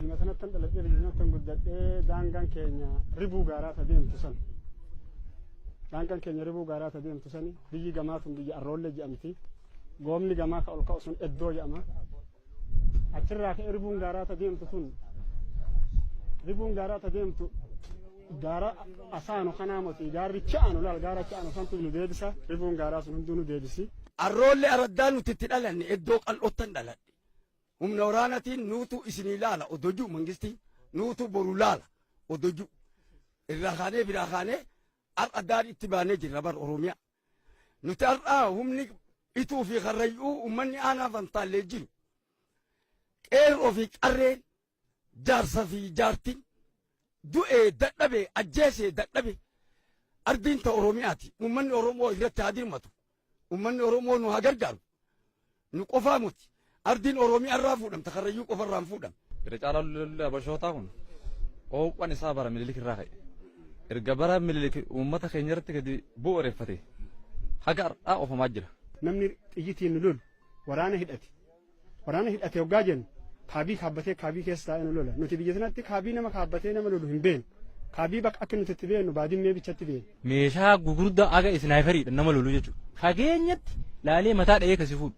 Biyya sanattan dhaladhee biyya sanattan guddadhee daangaan keenya ribuu gaaraa ta deemtu san. Daangaan keenya ribuu gaaraa ta deemtu sani biyyi gamaa tun biyya arroollee jedhamti. Goomni gamaa ka ol ka'u sun eddoo jedhama. achirraa ka'e ribuun gaaraa ta deemtu sun ribuun gaaraa ta deemtu gaara asaanu kanaa moti gaarri cha'anu laal gaara cha'anu santu nu deebisa ribuun gaaraa sun hunduu nu deebisi. Arroolle araddaa nuti itti dhalanne iddoo qal'oottan dhaladhe. Humna waraanatiin nuutu isinii laala odojuu mangistiin nuutu boru laala odojuu. Irraa kaanee biraa kaanee har'a daadhii itti baanee jirra bara Oromiyaa. Nuti har'a humni Ituu fi Karrayyuu uummanni aanaa Fantaallee jiru qeerroo fi qarreen jaarsa fi jaartiin du'ee dadhabe ajjeesee dadhabe ardiin ta Oromiyaati. Uummanni Oromoo irratti haa dirmatu. Uummanni Oromoo nu haa gargaaru. Nu qofaa muti. Ardiin Oromiyaa irraa fuudhamta Karrayyuu qofa irraa hin fuudhamne. Irra caalaa lolli Habashootaa kun oowwan isaa bara Minilik irraa ka'e. Erga bara Minilik uummata keenya irratti gadi bu'uureffate haga har'aa ofamaa jira. Namni xiyyitiin nu lolu waraana hidhate. Waraana hidhate hoggaa jennu kaabii kaabbatee kaabii keessa taa'ee nu lola. Nuti biyya sanatti kaabii nama kaabbatee nama lolu hin beeknu. Kaabii bakka akka nuti itti beeknu baadimmee bichatti beekna. Meeshaa gugurdaa aga isnaayiperiidhaan nama lolu jechuudha. Fageenyatti laalee mataa dha'ee kasi fuudhu.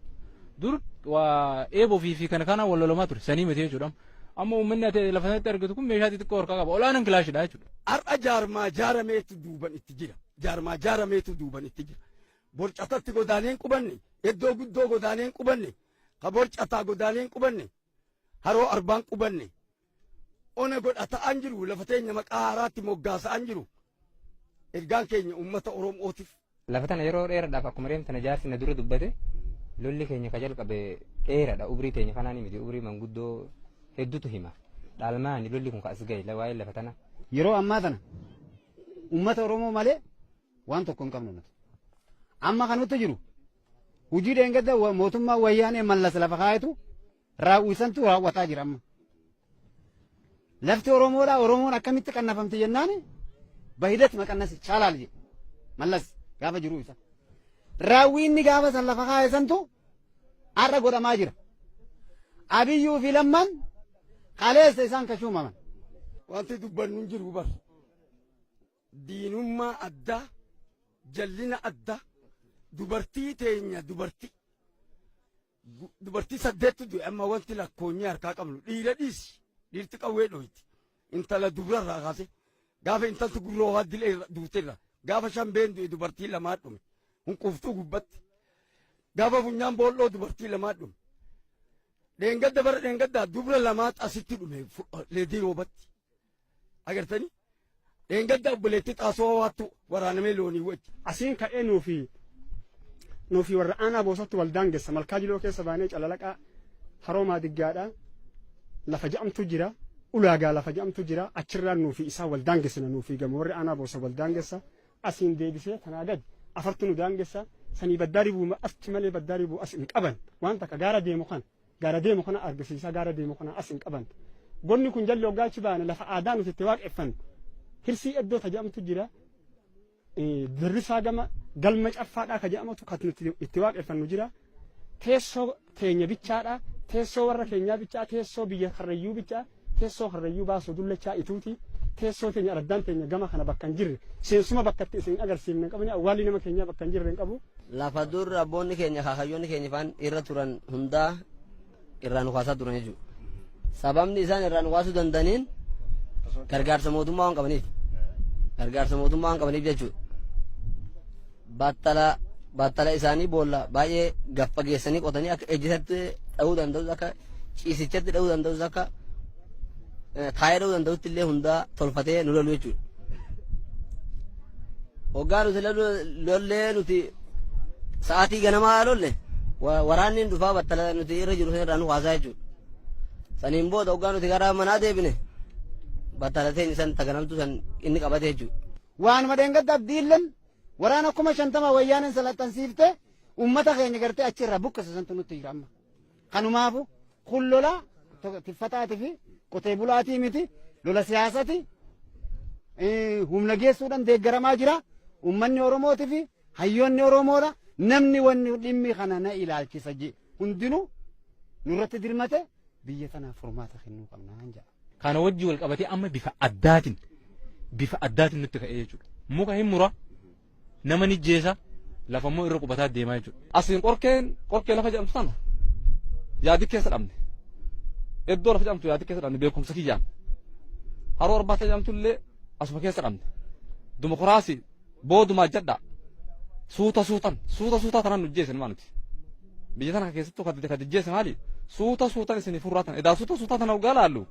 Dur waa eeboo fi fi kana kana wal lolamaa ture sanii miti jechuudha. Amma uummanni ati lafa sanatti argitu kun meeshaa xixiqqoo harkaa qaba. Olaanan kilaashidha jechuudha. Har'a jaarmaa jaarameetu duuban itti jira. Jaarmaa jaarameetu duuban itti jira. Borcatatti godaaneen qubanne, iddoo guddoo godaaneen qubanne, ka borcataa godaaneen qubanne, haroo arbaan qubanne, ona godha ta'an jiru lafa teenya maqaa haaraatti moggaasa'an jiru ergaan keenya uummata oromootiif. Lafa tana yeroo dheeraadhaaf akkuma reem tana jaarsi na dura dubbate lolli keenya ka jalqabe dheeraadha ubrii teenya kanaan miti ubrii manguddoo hedduutu hima dhaalmaani lolli kun ka as gahe waa'ee lafa tana. Yeroo ammaa tana uummata oromoo malee waan tokko hin qabnu nuti amma kan nutti jiru hojii dheengadda mootummaa wayyaanee mallas lafa kaayetu raawwi santu raawwataa jira amma. Lafti Oromoodhaa Oromoon akkamitti qannafamti jennaan bahidat maqannas chaalaal jedhe mallas gaafa jiruu isa. Raawwi inni gaafa san lafa kaa'e santu har'a godhamaa jira. Abiyyuu fi lammaan kaleessa isaan kashuumaman. Wanti dubbannu hin jiru bar. Diinummaa addaa, jallina addaa, dubartii teenya dubartii. Dubartii saddeettu du'e amma wanti lakkoonyee harkaa qabnu dhiira dhiisi dhiirti qawwee dhooyti intala dubrarraa kaase gaafa intalti gurroo waa dilee duuterra gaafa shambeen du'e dubartii lamaa dhume hunquuftuu gubbatti gaafa funyaan boolloo dubartii lamaa dhume dheengadda bara dheengaddaa dubra lamaa asitti dhume leedii roobatti Agartanii? Dheengadda obboleettii xaasoo hawaattu waraanamee loonii wajji. Asiin ka'ee nuufi nuufi warra aanaa boosatti wal daangessa malkaa jiloo keessa baanee calalaqaa haroomaa diggaadha lafa ja'amtu jira ulaagaa lafa ja'amtu jira achirraan nuufi isaa wal daangessina nuufi gama warri aanaa boosa wal daangessa asiin deebisee kanaa gadi afartu nu daangessa sanii baddaa ribuu achi malee baddaa ribuu as hin qaban waan takka gaara deemu kana. Gaara deemu kana argisiisa gaara deemu kana as hin qaban. Gonni kun jalli hoggaa achi baane lafa aadaa nuti itti waaqeffannu. Hirsii iddoo ta jedhamtu jira. Dirrisaa gama galma caffaadhaa ka jedhamtu kan nuti itti waaqeffannu jira. Teessoo teenya bichaadhaa. Teessoo warra keenyaa bichaa teessoo biyya karrayyuu bichaa. Teessoo karrayyuu baasuu dullachaa ituuti teessoo teenya araddaan teenya gama kana bakka hin jirre seensuma bakka itti isin agarsiifne hin qabne awwaalli nama keenyaa bakka hin jirre hin qabu. Lafa dur abboonni keenya kaakayyoonni keenya faan irra turan hundaa irraa nu kaasaa turan jechuudha. Sababni isaan irraa nu kaasuu danda'aniin gargaarsa mootummaa waan qabaniif. Gargaarsa mootummaa waan qabaniif jechuudha. baattala baattala isaanii boolla baay'ee gad fageessanii qotanii akka ejjisatti dha'uu danda'us akka ciisichatti dha'uu danda'us akka eh, taa'ee dha'uu danda'utti illee hundaa tolfatee nu lolu jechuudha. Hoggaa nuti lolu- lollee nuti sa'aatii ganamaa lolle wa- waraanni hin dhufaa battala nuti irra jiru sanarraa nu haasaa jechuudha. Saniin booda hoggaa nuti gara manaa deebine battala ta'in isan taganamtu san inni qabate jechuudha. Waanuma dheengadda abdiilleen Waraana kuma shantama wayyaaneen salaxxansiifte uummata keenya gartee achi irraa buqqise santu nutti jira amma. Kanumaafu kun lola tiffataatii fi qotee bulaatii miti lola siyaasati humna geessuudhaan deeggaramaa jira. Uummanni Oromootii fi hayyoonni Oromoodha. Namni wanni dhimmi kana na ilaalchisa hundinuu nurratti dirmate Biyya tanaaf furmaata kennuu qabnaan ja'a. Kana wajji wal qabatee amma bifa addaatiin bifa addaatiin nutti ka'ee jechuudha. Muka hin mura nama ni jeesa lafa immoo irra qubataa deemaa jechuudha. Asiin qorkeen qorkee lafa jedhamtu sana yaadi keessa dhabne. Iddoo lafa jedhamtu yaadi keessa dhabne beekumsa kiyyaan. Haroo arbaata jedhamtu illee asuma keessa dhabne. Dimokiraasii Boodumaa jadhaa. Suuta suutan. Suuta suutaa tanaan nu jeessan maa nuti. Biyya tana keessattuu kan kan jeesse maali? Suuta suutan isin furraatan. Edaa suuta suutaa tana dhugaa laallu.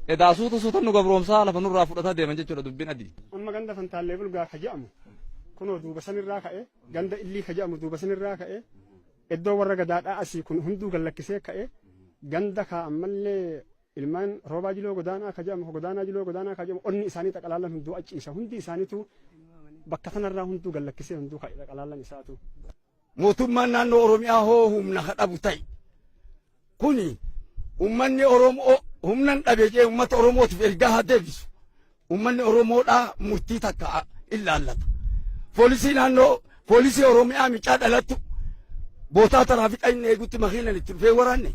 Edaa suuta suutan nu gabroomsaa lafa nurraa fudhataa deeman jechuudha dubbiin adii. Amma ganda fantaallee bulgaa ka jedhamu kunoo duuba sanirraa ka'e ganda illii ka jedhamu duuba sanirraa ka'e iddoo warra gadaadhaa asii kun hunduu gallakkisee ka'e ganda kaa ammallee Ilmaan Roobaa Jiloo Godaanaa ka jedhamu, ka Godaanaa Jiloo Godaanaa ka jedhamu onni isaanii xaqalaallan hunduu achiisa. Hundi isaaniitu bakka tanarraa hunduu gallakkisee hunduu ka'e xaqalaallan isaatu. Mootummaan naannoo Oromiyaa hoo humna ka dhabu ta'e. Kuni ummanni Oromoo humnan dhabe jee ummata Oromootiif ergaa haa deebisu. Uummanni Oromoodhaa murtii takka illaallata. Poolisii naannoo poolisii Oromiyaa micaa dhalattu bootaa taraafiqa inni eegutti makiinan itti dhufee waraanne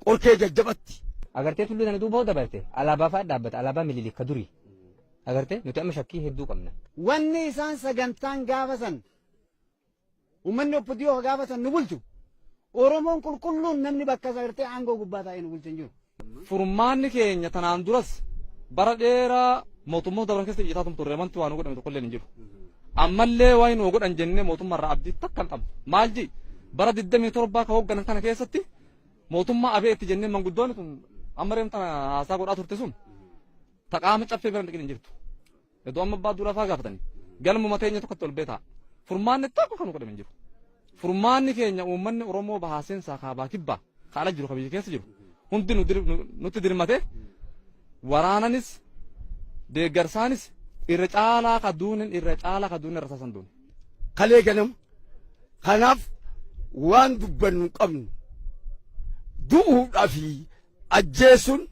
qorkee jajjabatti. Agartee tulluu sana duuba hoo dabarte alaabaa fa'aa dhaabbata alaabaa mililik ka durii. Agartee nuti amma shakkii hedduu qabna. Wanni isaan sagantaan gaafa san Uummanni oppidiyyoo ka gaafa san nu bulchu Oromoon qulqulluun namni bakka isaa irtee aangoo gubbaa taa'ee nu bulchu hin jiru. Furmaanni keenya tanaan duras bara dheeraa mootummoota dabran keessa iyyataa tum turre wanti waa nu godhame tokkollee hin jiru. Ammallee waa nu godhan jennee mootummaa irraa abdii takka hin qabnu. Maal jee bara 27 ka hoogganan kana keessatti mootummaa abee itti jennee manguddoonni tun amma reemta haasaa godhaa turte sun taqaama caffee bira hin dhiqin hin jirtu. Edoo amma abbaa duulaa fa'aa gaafatanii galmuma teenya tokkotti ol beetaa furmaanni tokko kan godhame hin jiru. Furmaanni keenya uummanni Oromoo bahaa seensaa kaabaa kibbaa kaala jiru kan biyya keessa jiru hundi nu dir- nu- nutti dirmatee waraananis deeggarsaanis irra caalaa ka duunin irra caalaa ka duunin irra saasan duuni. kalee ganam kanaaf waan dubbannu hin qabnu du'uudhaa fi ajjeesuun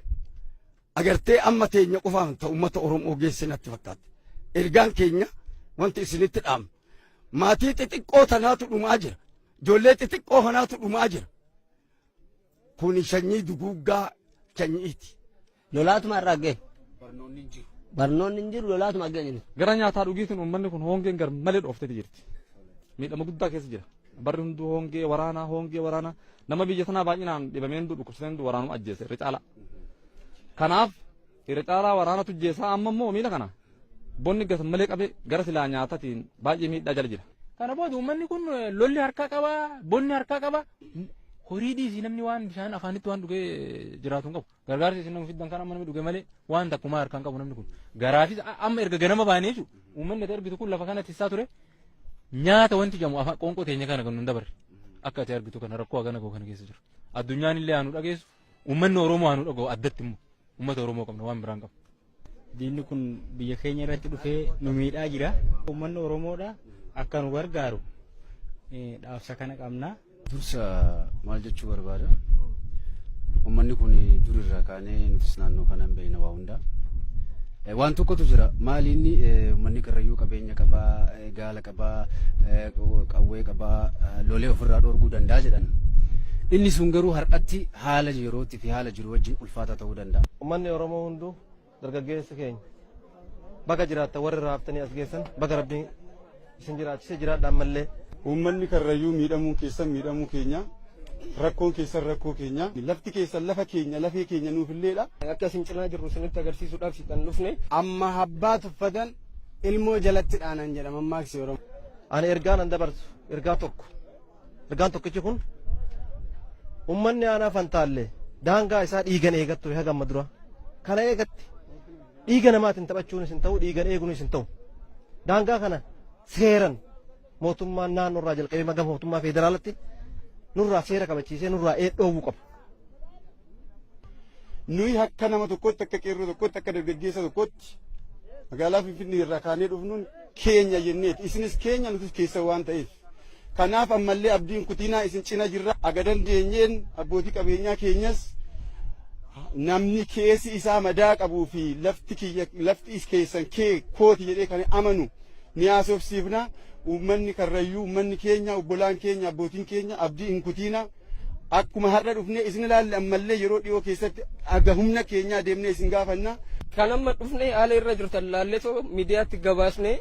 Agartee amma teenya qofaan ta ummata Oromoo geesse natti fakkaatti. Ergaan keenya wanti isinitti dhaamnu. Maatii xixiqqoo tanaatu dhumaa jira. Ijoollee xixiqqoo kanaatu dhumaa jira. Kuni sanyii duguuggaa sanyiiti. Lolaatuma irraa ga'e. Barnoonni hin jiru lolaatuma ga'e. Gara nyaataa dhugiitiin uummanni kun hoongeen gar malee dhooftee jirti. Miidhama guddaa keessa jira. Barri hunduu hongee waraanaa hongee waraanaa nama biyya sanaa baay'inaan dhibamee hunduu dhukkubsatee hunduu waraanuma ajjeese irra caalaa. Kanaaf irra caalaa waraanatu ajjeesaa amma immoo miila kana bonni gasa malee qabee gara silaa nyaatatiin baay'ee miidhaa jala jira. Kana booda uummanni kun lolli harkaa qaba bonni harkaa qaba horii dhiisii namni waan bishaan afaanitti waan dhugee jiraatu hin qabu. Gargaarsi isin fiddan kan amma namni dhuge malee waan takkumaa harkaan qabu namni kun. Garaafis amma erga ganama baanee jechuudha. Uummanni ati argitu kun lafa kanatti isaa ture nyaata wanti jedhamu afaan qoonqoo teenya kana kan nun dabarre. Akka ati argitu kana rakkoo hagana koo kana keessa jiru. Addunyaan illee haa nu dhageessu. Uummanni Oromoo haa nu dhaga'u addatti immoo. Uummata Oromoo qabna waan biraan qabna. Diinni kun biyya keenya irratti dhufee nu miidhaa jira. Uummanni Oromoodha akka nu gargaaru dhaamsa kana qabna. Dursa maal jechuu barbaada? Uummanni kun dur irraa kaanee nutis naannoo kana hin beekna waa hundaa. Waan tokkotu jira. Maali inni uummanni karrayyuu qabeenya qabaa, gaala qabaa, qawwee qabaa, lolee ofirraa dhorkuu danda'a jedhan. Inni sun garuu har'atti haala yerootti fi haala jiru wajjin ulfaataa ta'uu danda'a. Uummanni Oromoo Duu dargaggeessa keenya baga jiraatta warri raaftanii as geessan baga rabbiin isin jiraachise jiraadha ammallee. Uummanni karrayyuu miidhamuun keessan miidhamuu keenya rakkoon keessan rakkoo keenya lafti keessan lafa keenya lafee keenya nuufilleedha. Akka isin cinaa jirru isinitti agarsiisuudhaaf kan dhufne. Amma abbaa tuffatan ilmoo jalatti dhaanan jedha mammaaksi Oromoo. Ani ergaa nan dabarsu ergaa tokko. Ergaan tokkichi kun ummanni aanaa fantaalle daangaa isaa dhiigan eegat ture haga amma dura. Kana eegatti dhiiga namaatiin taphachuunis hin ta'u dhiigan eeguunis hin ta'u. Daangaa kana seeran mootummaan naannoo irraa jalqabee maga mootummaa federaalatti nurraa seera kabachiisee nurraa dhoowwuu qaba. Nuyi akka nama tokkotti akka qeerroo tokkotti akka dargaggeessa tokkotti magaalaa Finfinnee irraa kaanee dhufnuun keenya jenneeti. Isinis keenya nutis keessa waan ta'eef. Kanaaf ammallee abdiin kutiinaa isin cina jirra. Aga dandeenyeen abbootii qabeenyaa keenyas namni keessi isaa madaa qabuu fi lafti kiyya lafti is keessan kee kooti jedhee kan amanu ni haasofsiifna. Uummanni karrayyuu uummanni keenya obbolaan keenya abbootiin keenya abdii hin kutiina. Akkuma har'a dhufnee isin ilaalle ammallee yeroo dhiyoo keessatti aga humna keenyaa deemnee isin gaafanna. Kan amma dhufnee haala irra jirtan laalletoo miidiyaatti gabaasnee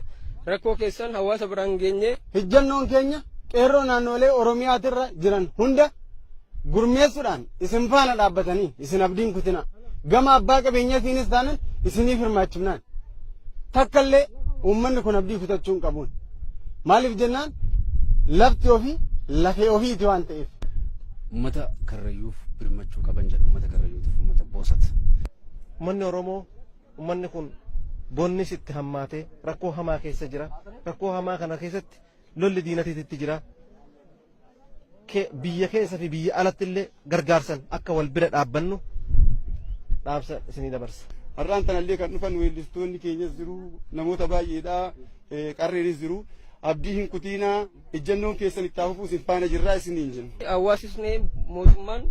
rakkoo keessan hawaasa biraan geenyee. Hijjannoon keenya qeerroo naannolee Oromiyaatirra jiran hunda gurmeessuudhaan isin faana dhaabbatanii isin abdiin kutina. Gama abbaa qabeenyatiinis taanan isiniif hirmaachifnaan. takkallee uummanni kun abdii kutachuu hin qabuun. Maaliif jennaan lafti ofii lafee ofiiti waan ta'eef. Uummata karrayyuuf birmachuu qaban jedhu uummata karrayyuutiif uummata boosat. Uummanni Oromoo uummanni kun bonnis itti hammaatee rakkoo hamaa keessa jira. Rakkoo hamaa kana keessatti lolli diinatiitti jira. biyya keessa fi biyya alatti illee gargaarsan akka wal bira dhaabbannu dhaamsa isinii dabarsa. Har'aan tanallee kan dhufan weellistoonni keenyas jiru namoota baay'eedha qarreenis jiru abdii hin kutiinaa ejjannoon keessan itti hafuu isin faana jirraa isiniin jenna. Hawaasisni mootummaan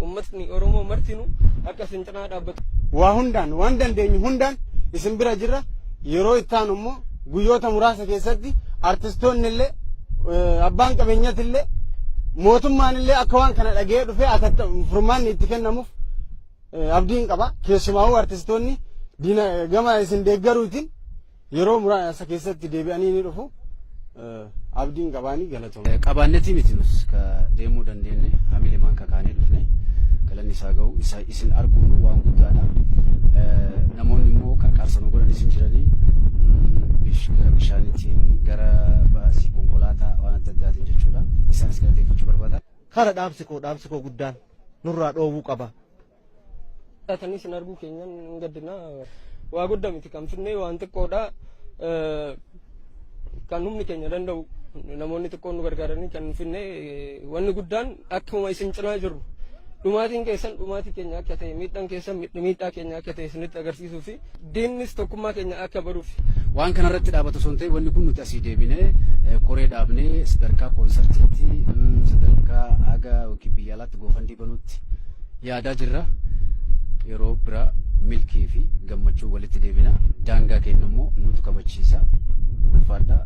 uummatni Oromoo martinu akka isin cinaa dhaabbatu. Waa hundaan waan dandeenyu hundaan isin bira jirra yeroo itti aanu immoo Guyyoota muraasa keessatti artistoonni illee abbaan qabeenyati illee mootummaan illee akka waan kana dhaga'ee dhufee atatta furmaanni itti kennamuuf abdiin qaba. Keessumaa'uu artistoonni gama isin deeggaruutiin yeroo muraasa keessatti deebi'anii ni dhufu. Abdiin qabaanii galatoomi. Qabaannetii miti nus ka deemuu dandeenye hamilemaan kakaanee dhufne galanni isaa ga'u isa isin arguun waan guddaadha. Namoonni immoo qarqaarsa nu godhanis hin jiranii gara bishaaniitiin gara baasii konkolaataa waan adda addaatiin jechuudha. Isaanis galateeffachuu barbaada. Kara dhaamsi koo dhaamsi koo guddaan nurraa dhoowwuu qaba. Taatanii isin arguu keenyan hin gaddina. Waa guddaa miti kan finnee waan xiqqoodha. Kan humni keenya danda'u namoonni xiqqoon nu gargaaranii kan finne wanni guddaan akkuma isin cinaa jirru dhumaatiin keessan dhumaatii keenya akka ta'e miidhaan keessan miidhaa keenya akka ta'e isinitti agarsiisuu fi Diinnis tokkummaa keenya akka baruuf. Waan kana irratti dhaabatu osoo hin ta'in wanni kun nuti asii deebinee koree dhaabnee sadarkaa koonsartiitti sadarkaa haga yookiin biyya alaatti goofandii banuutti yaadaa jirra. Yeroo biraa milkii fi gammachuu walitti deebina. Daangaa keenya immoo nutu kabachiisa. Ulfaadhaa.